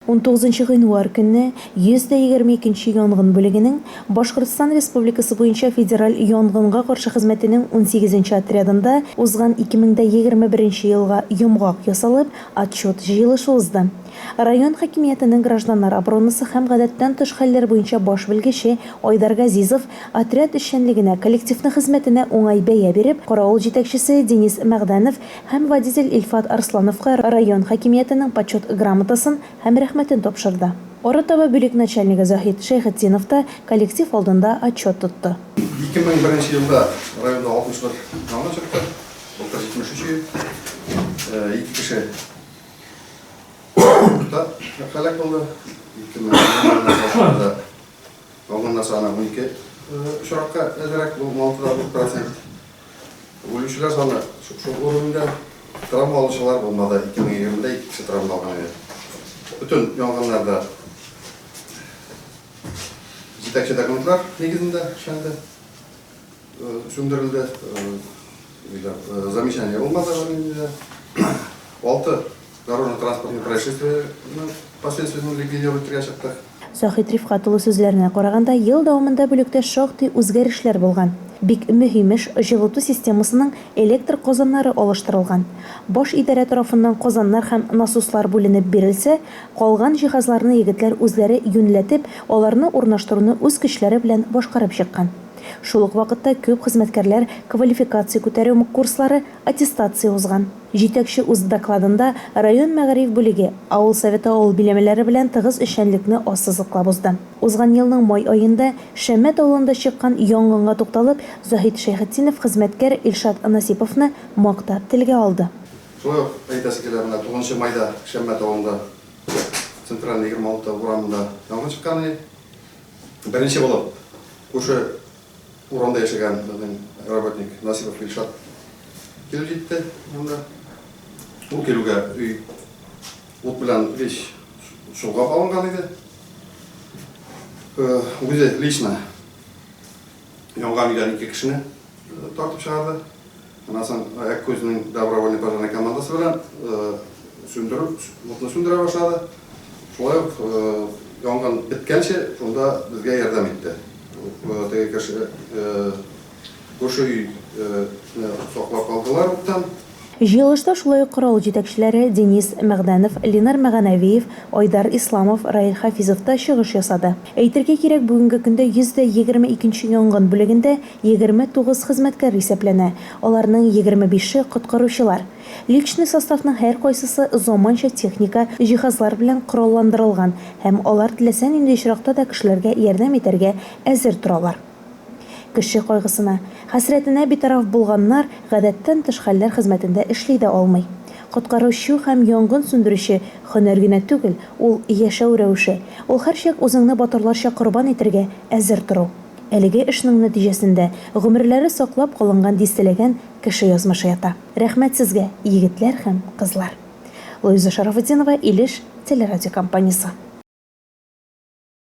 Унтугызынчы гыйнвар көнне 122 нче янгын бүлегенең Башкортстан Республикасы буенча федераль янгынга каршы хезмәтенең унсигезенче отрядында узган 2021 нче елга йомгак ясалып, отчет җыелышы узды. Район хакимиятенең гражданнар оборонасы һәм гадәттән тыш хәлләр буенча баш белгече Айдар Газизов отряд эшчәнлегенә, коллективның хезмәтенә уңай бәя биреп, каравыл җитәкчесе Денис Мәгъдәнов Һәм водитель Илфат Арслановка район хакимиятенең Почет грамотасын һәм Рәхмәтен тапшырды. Арытаба бүлек начальнигы Заһит Шәйхетдинов та коллектив алдында отчет тотты. 2001 елда районда 61 янгын чыкты, былтыр 73 ел. Ике кеше утта һәлак булды. 2001 елына караганда янгыннар саны унике очракка әзрәк, бу 16 процент. Үлүчеләр саны шушы күренүдә. Травма алучылар булмады. 2020-дә ике кеше травма алган иде. Бөтен янгыннарда җитәкче документлар нигезендә эшләнде, сүндерелде. Замечание булмады. Алты Дорожно-транспортный происшествиене последствиясен ликвидировать итәргә чыктык. Заһит Рифкать улы сүзләренә караганда, ел дәвамында бүлектә шактый үзгәрешләр булган. Бик мөһим эш, җылыту системасының электр казаннары алыштырылган. Баш идарә тарафыннан казаннар һәм насослар бүленеп бирелсә, калган җиһазларны егетләр үзләре юньләтеп, аларны урнаштыруны үз көчләре белән башкарып чыккан. Шул ук вакытта күп хезмәткәрләр квалификация күтәрү курслары, аттестация узган. Җитәкче үз докладында район мәгариф бүлеге, авыл советы авыл биләмәләре белән тыгыз эшчәнлекне ассызыклап узды. Узган елның май аенда Шәммәт авылында чыккан янгынга тукталып, Заһит Шәйхетдинов хезмәткәр Илшат Насиповны мактап телгә алды. Шулай ук әйтәсе килә, менә тугызынчы майда Шәммәт авылында, Центральный егерме алты урамында янгын чыккан иде. Беренче булып күрше Урамда яшәгән безнең работник Насипов Илшат килеп җитте монда. Ул килүгә өй ут белән вещь шулга алынган иде. Э, үзе лично янган өйдән ике кешене э, тартып чыгарды. Аннан соң Әккүзнең добровольный пожарный командасы белән сүндерү, утны сүндерә башлады. Шулай ук янгын беткәнче шунда безгә ярдәм итте. Теге кеше күрше өй саклап калдылар уттан. Җыелышта шулай ук каравыл җитәкчеләре Денис Мәгъдәнов, Ленар Мәганәвиев, Айдар Исламов, Раил Хафизов та чыгыш ясады. Әйтергә кирәк, бүгенге көндә 100 дә 22 нче янгын бүлегендә Егерме тугыз хезмәткәр исәпләнә, аларның егерме бише, коткаручылар. Личный составның һәркайсысы заманча техника, җиһазлар белән коралландырылган һәм алар теләсә нинди очракта да кешеләргә ярдәм итәргә әзер торалар. Кеше кайгысына, хәсрәтенә битараф булганнар гадәттән тыш хәлләр хезмәтендә эшли дә алмый. Коткаручы һәм янгын сүндерүче, һөнәр генә түгел, ул, яшәү рәвеше. Ул һәрчак үзеңне батырларча корбан итәргә әзер тору. Әлеге эшнең нәтиҗәсендә гомерләре саклап калынган дистәләгән кеше язмышы ята. Рәхмәт сезгә, егетләр һәм кызлар! Луиза Шарафутдинова, Илеш телерадиокомпаниясе.